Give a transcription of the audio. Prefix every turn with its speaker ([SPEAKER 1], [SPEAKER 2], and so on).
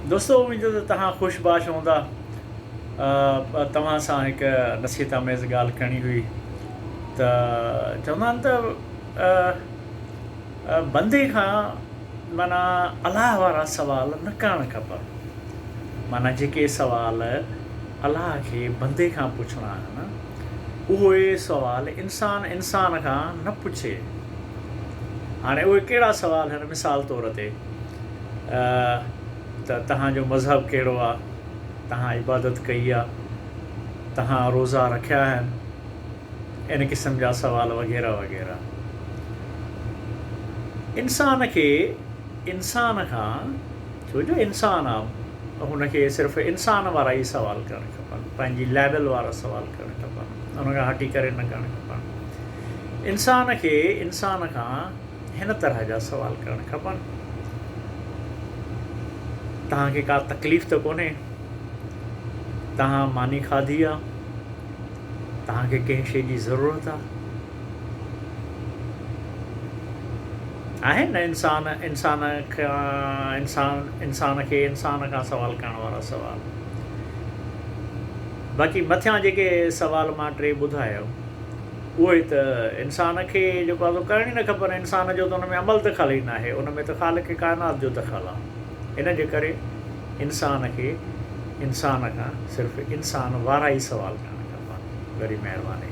[SPEAKER 1] دوستو اميد ته توهان خوش باش هوندا توهان سان هڪ نصيحت آميز ڳالهه ڪرڻي هئي ته چوندا آهن ته بندي کان معنيٰ الاهه وارا سوال نه ڪرڻ کپن معنيٰ جيڪي سوال الاهه کي بندي کان پڇڻا آهن اهي سوال انسان انسان کان نه پڇي هاڻي اهي ڪهڙا سوال آهن مثال طور تي ته توهان جو مذهب ڪهڙو آ؟ توهان عبادت ڪئي آ؟ توهان روزا رکيا آهن؟ ان قسم جا سوال وغيره وغيره. انسان کي انسان کان ڇو جو انسان آ هن کي صرف انسان وارا ئي سوال ڪرڻ کپن پنهنجي ليول وارا سوال ڪرڻ کپن ان کان هٽي ڪري نه ڪرڻ کپن. انسان کي انسان کان هن طرح جا سوال ڪرڻ کپن. توهان کي ڪا تڪليف ته ڪونهي؟ توهان ماني کاڌي آ؟ توهان کي ڪنهن شيء جي ضرورت آ؟ آهن نه انسان انسان کان انسان کي انسان کان سوال ڪرڻ وارا سوال. باقي مٿيان جيڪي سوال مان ٽي ٻڌايو. اهو ئي ته انسان کي جيڪو آهي سو ڪرڻ ئي نه کپن. انسان جو ته ان ۾ عمل دخل ئي ناهي. ان ۾ ته خالق ڪائنات جو دخل آهي. ان جي ڪري انسان کي انسان کان صرف انسان وارا ئي سوال ڪرڻ کپن. وڏي مهرباني.